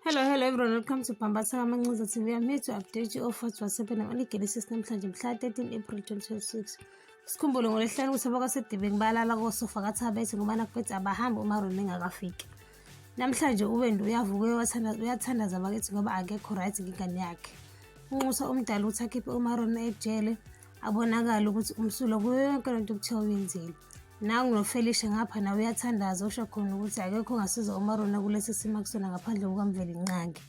Hello, hello everyone. Welcome to Pambasa Manguza TV. I'm here to update you of what was happening on the Genesis namhlanje mhla 13 April 2026. Sikhumbule ngolesihlanu ukuthi abakasedibeni balala kosofa kathabethe ngoba nakuphethe abahambi uma Rona engakafiki. Namhlanje uBendi uyavuka uyathandaza uyathandaza bakithi ngoba akekho right ngingane yakhe. Unxusa umdala ukuthi akhiphe uMarona ejele abonakala ukuthi umsulo kuyo yonke lento kuthiwa uyenzile nangu nofelishe ngapha nawe uyathandaza usho khona ukuthi akekho ongasiza umarona kulesi simo akusona ngaphandle kukamveli nqange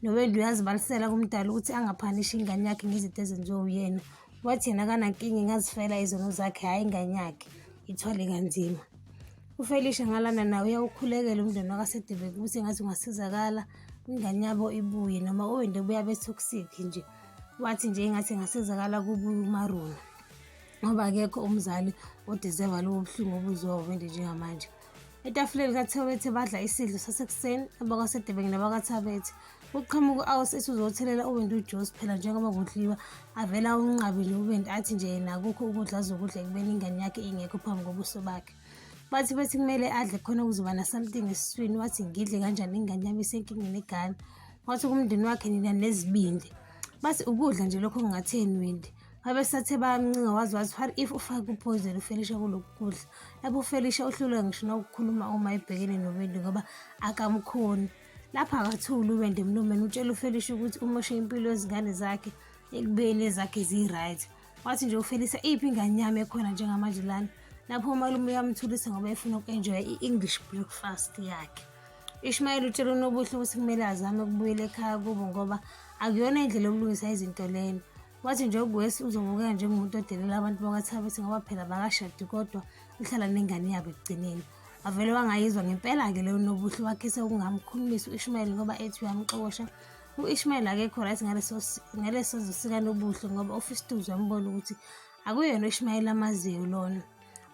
nowendi uyazibalisela kumdala ukuthi angaphanishi ingane yakhe ngezinto ezenziwe uyena wathi yena kanankinga ingazifela izono zakhe hhayi ingane yakhe ithwale kanzima ufelishe ngalana nawe uyawukhulekela umndeni wakasedebeki ukuthi ngathi ungasizakala ingane yabo ibuye noma uwende buya bethoksiki nje wathi nje engathi engasizakala kubumaruna ngoba akekho umzali odizeva lobo buhlungu obuzwa wende njengamanje etafuleni kathewethe badla isidlo sasekuseni abakwasedebenge nabakathabethe uqhamuka u-aus esizothelela uwindi ujosi phela njengoba kudliwa avela unqabi nje uwindi athi nje yena akukho ukudla azokudla ekubeni ingane yakhe ingekho phambi kobuso bakhe bathi bethi kumele adle khona ukuzoba na-something esiswini wathi ngidle kanjani ingane yami isenkingeni egana wathi kumndeni wakhe nina nezibindi bathi ukudla nje lokho kungatheni windi babesathe bayamncinga wazi wazi what if ufake uphoyizeni ufelisha kulokhu kudla lapho ufelisha uhlulwe ngisho nokukhuluma uma ebhekene nobendi ngoba akamkhoni lapho akathuli uwende mlumeni utshela ufelisha ukuthi umoshe impilo yezingane zakhe ekubeni ezakhe ziyi-right wathi nje ufelisa iphi ingane yami ekhona njengamanje lana lapho umalume uyamthulisa ngoba efuna uku-enjoya i-english breakfast yakhe ishmayeli utshela unobuhle ukuthi kumele azame ukubuyela ekhaya kubo ngoba akuyona indlela yokulungisa izinto lena wathi nje ugwesi uzobukeka njengomuntu odelela abantu bakathabisi ngoba phela bakashadi kodwa uhlala nengane yabo ekugcineni avele wangayizwa ngempela-ke leyo nobuhle wakhise ukungamkhulumisi uishmayeli ngoba ethi uyamxosha u-ishmayeli akekho right ngaleso sikanobuhle ngoba ufistuzi wambona ukuthi akuyona u-ishmayeli amaziyo lona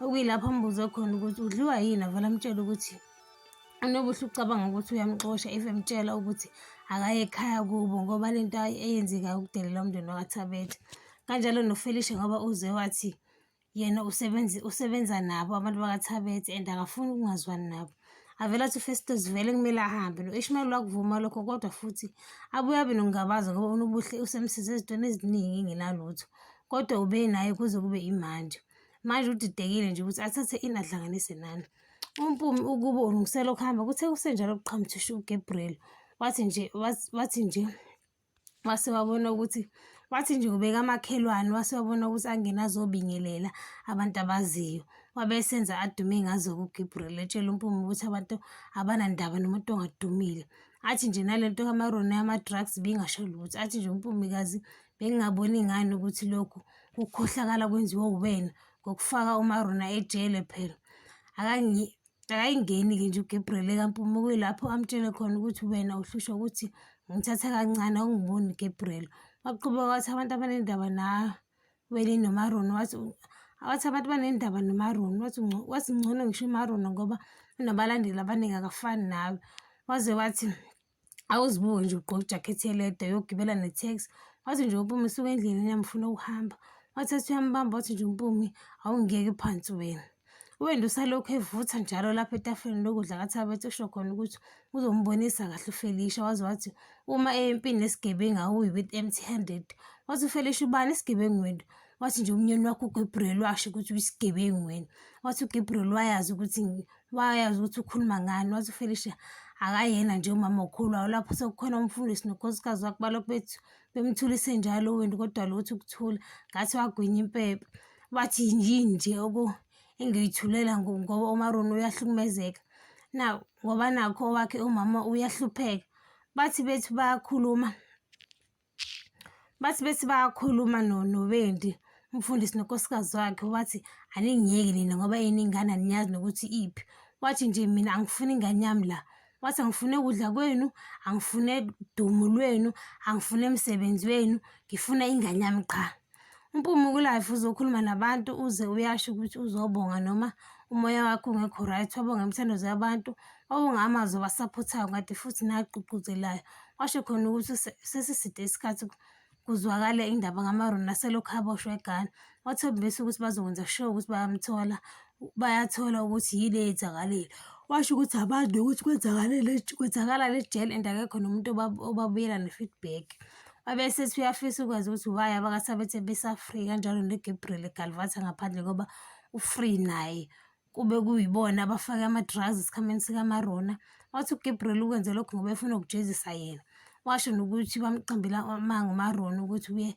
okuyilapho ambuze khona ukuthi udliwa yini avele amtshela ukuthi unobuhle ucabanga ukuthi uyamxosha if emtshela ukuthi akaye ekhaya kubo ngoba le nto eyenzekayo ukudelela umndeni wakathabethe kanjalo nofelisha ngoba uze wathi yena usebenzi usebenza nabo abantu bakathabethe and akafuni ukungazwani nabo avele athi ufestos vele kumele ahambe no-ishmayeli wakuvuma lokho kodwa futhi abuye abe nokungabaza ngoba unobuhle usemsize ezintweni eziningi engenalutho kodwa ube naye kuze kube imanje manje udidekile nje ukuthi athathe ini adlanganise nani umpumi ukuba ulungisela ukuhamba kuthe kusenjalo kuqhamuthisha ugabriel wathi nje wathi nje wase wabona ukuthi wathi nje ubeka amakhelwane wase wabona ukuthi angena azobingelela abantu abaziyo wabe esenza adume ngazo kuGibril etshela uMpume ukuthi abantu abanandaba nomuntu ongadumile athi nje nalento kamarona yama-drugs bingasho lutho athi nje umpumikazi bengingaboni ngani ukuthi lokhu kukhohlakala kwenziwa uwena ngokufaka umarona ejele phela Akayingeni-ke nje uGabriel ekaMpume kuyilapho amtshele khona ukuthi wena uhlushwa ukuthi ngithatha kancane awungiboni uGabriel. Waqhubeka wathi abantu abanendaba nawe noMaroni wathi wathi abantu banendaba noMaroni wathi wathi ngcono ngisho uMaroni ngoba unabalandeli abaningi akafani nawe. Waze wathi awuzibuke nje ugqoke ijakhethi elede uyogibela ne-tax wathi nje umpumi suke endleleni yamfuna ukuhamba wathi ethi uyambamba wathi nje umpumi awungiyeke phansi wena uwenda usalokhu evutha njalo lapho etafuleni lokudla kathabethi usho khona ukuthi uzombonisa kahle ufelisha waze wathi uma eyempini nesigebengu awuyi with empty handed wathi ufelisha ubani isigebengu wena wathi nje umnyeni wakho ugabriel washo ukuthi uyisigebengu wena wathi ugabriel wayazi ukuthi wayazi ukuthi ukhuluma ngani wathi uFelicia akayena nje umama okhulu awulapho sekukhona umfundisi nokhosikazi wakhe balokhu bethi bemthulise njalo uwinti kodwa lothi ukuthula ngathi wagwinya impepha bathi yini nje oku engiyithulela ngoba umaroni uyahlukumezeka na ngoba nakho owakhe umama uyahlupheka bathi bethu bayakhuluma bathi bethi bayakhuluma nobendi umfundisi nonkosikazi wakhe wathi aningiyeki nina ngoba yini ingane aniyazi nokuthi iphi wathi nje mina angifuni ingane yami la wathi angifune ukudla kwenu angifune dumo lwenu angifune msebenzi wenu ngifuna ingane yami qha Mpumi kulife uzokhuluma nabantu uze uyasho ukuthi uzobonga noma umoya wakho ungekho right wabonga imithandazo yabantu wabonga amazwi abasaphothayo kade futhi nagqugquzelayo washo khona ukuthi sesiside isikhathi kuzwakale indaba ngamaroni naselokhu aboshwe egana wathembisa ukuthi bazokwenza sure ukuthi bayamthola bayathola ukuthi yini eyenzakalile washo ukuthi abantu ukuthi kwenzakalele kwenzakala le jele and akekho nomuntu obabuyela ne-feedback Abese siyafisa ukwazi ukuthi why abakasabethe besafree kanjalo noGabriel eGalvatha ngaphandle ngoba ufree naye kube kuyibona abafake ama-drugs esikhameni sikamarona wathi ugabriel ukwenze lokho ngoba efuna ukujezisa yena washo nokuthi bamqambela amanga umarona ukuthi uye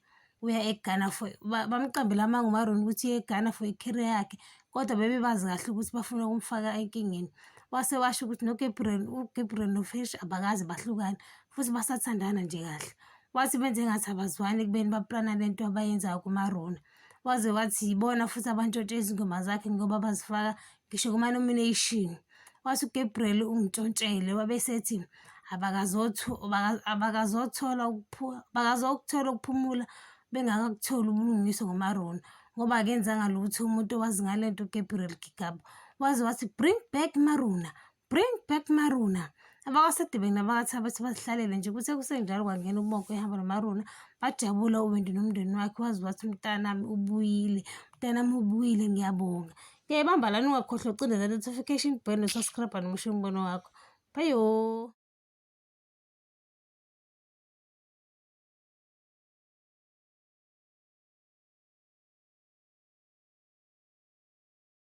uya eghana for bamqambela amanga umarona ukuthi uye eghana for icareer yakhe kodwa bebebazi kahle ukuthi bafuna ukumfaka enkingeni wase washo ukuthi nogabriel ugabriel nofish abakazi bahlukane futhi basathandana nje kahle wathi benze ngathi abazwani ekubeni baplana le nto abayenzayo kumaruna waze wathi yibona futhi abantshontshe izingoma zakhe ngoba bazifaka ngisho kuma-nomination wathi ugabriel ungitshontshele wabesethi abakazothola ukuphumula bengakakutholi ubulungiswa ngomarona ngoba akenzanga lutho umuntu owazi ngale nto ugabriel gigaba waze wathi bring back marona bring back maruna abakasedibeni nabakathi abathi bazihlalele nje kuthe kusenjalo kwangena ubonke ehamba nomaruna bajabula uwendi nomndeni wakhe wazi wathi umntanami ubuyile umntanami ubuyile ngiyabonga ngiyayibamba lani ungakhohlwa ucindeza notification bell nosubscribe nomusho umbono wakho bayo